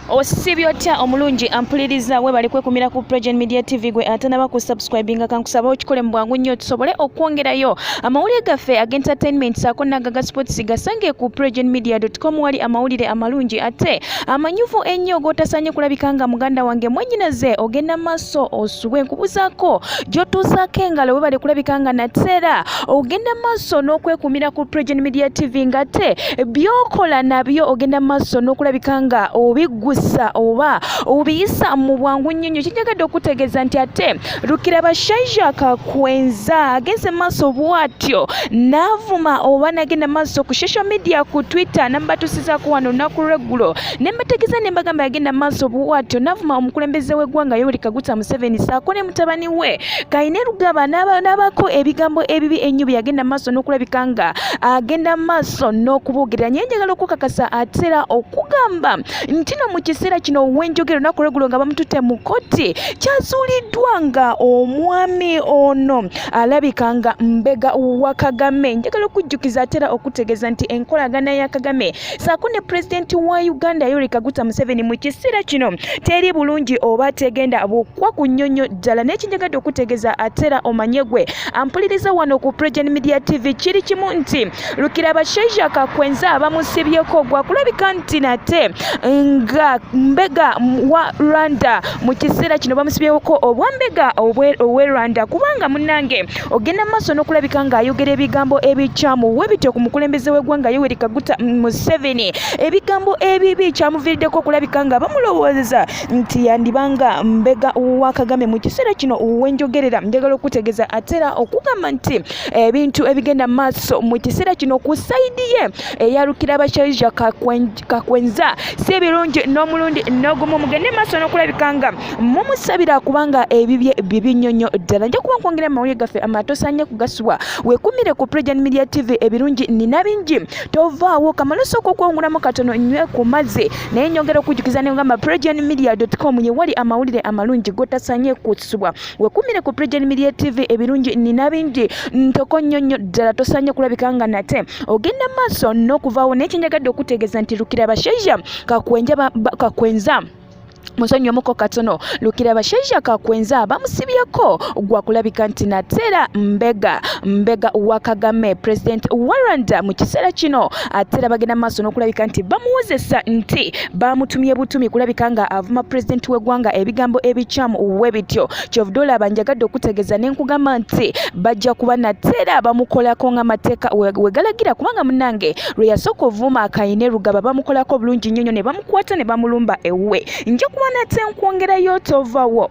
osibye otya omulungi ampuliriza webali kwekumira ku pregen media tv gwe atanaba ku subscribinga kankusaba okikole mu bwangu nnyo tusobole okwongerayo amawulire gaffe agentertainment saako nagaga sports gasange ku pregen media com wali amawulire amalungi ate amanyuvu ennyo gotasanye kulabika nga muganda wange mwenyinaze ogenda maaso osubwe nkubuzaako gyotuusaako engalo webali kulabika nga nateera ogenda maaso n'okwekumira ku pregen media tv nga te byokola nabyo ogenda maaso n'okulabika nga obiggusa oba obiyisa mu bwangu nnyo nnyo kinjagadde okutegeeza nti ate lukira bashaija kakwenza agenze maaso bwatyo n'avuma oba nagenda maaso ku social media ku twitter namubatusizaako wano olunaku lweggulo ne mbategeeza ne mbagamba yagenda maaso bwatyo n'avuma omukulembeze w'eggwanga yoweri kaguta museveni saako ne mutabani we kaine lugaba n'abaako ebigambo ebibi ennyo bye yagenda maaso n'okulabika nga agenda maaso n'okuboogerera nyo njagala okukakasa atera okugamba nti no mu kiseera kino wenjogera olunaku lwegulo nga bamututte mu kotti kyazuuliddwa nga omwami ono alabika nga mbega wa kagame njagala okujjukiza atera okutegeeza nti enkolagana ya kagame saako ne pulezidenti wa uganda yoweri kaguta museveni mu kiseera kino teri bulungi oba tegenda bukwa ku nnyonnyo ddala naye kinjagadde okutegeeza atera omanye gwe ampuliriza wano ku pregen media tv kiri kimu nti lukira bashaija kakwenza abamusibyeko gwakulabika nti nate nga mbega wa rwanda mu kiseera kino bamusibyeko obwambega owe rwanda kubanga munange ogenda maaso n'okulabika ng'ayogera ebigambo ebikyamu we bityo ku mukulembeze w'eggwanga yoweri kaguta museveni ebigambo ebibi kyamuviiriddeko okulabika nga bamulowooza nti yandibanga mbega wa kagame mu kiseera kino wenjogerera njagala okutegeeza atera okugamba nti ebintu ebigenda maaso mu kiseera kino ku sayidi ye eyalukira abashaija kakwenj okutikka kwenza si ebirungi n'omulundi n'ogumu mugende maaso n'okulabika nga mumusabira kubanga ebibye bibi nnyo nnyo ddala nja kuba nkwongera amawulire gaffe amatosaanye kugasubwa wekumire ku president media tv ebirungi nina bingi tovaawo kamala osooka okwongulamu katono nywe ku mazzi naye nyongera okujjukiza ne ngamba president media com yewali amawulire amalungi gotasanye kutsubwa wekumire ku Pregen Media TV ebirungi nina bingi ntoko nnyo nnyo ddala tosaanye kulabika nga nate ogenda maaso n'okuvaawo naye kyenjagadde okutegeeza nti lukira bashaija kakwenja kakwenza musonyi omuko katono lukira bashaija kakwenza bamusibyeko gwa kulabika nti nateera mbega mbega wa kagame president wa rwanda mu kiseera kino ateera bagenda maaso n'okulabika nti bamuwozesa nti baamutumye butumi kulabika nga avuma pulezidenti w'eggwanga ebigambo ebikyamu we bityo kyovude olaba njagadde okutegeeza ne nkugamba nti bajja kuba nate era bamukolako ng'amateeka we galagira kubanga munange lwe yasooka ovuuma akayine rugaba bamukolako bulungi nnyo nnyo ne bamukwata ne bamulumba ewuwe nja kuba nate nkwongerayo tovawo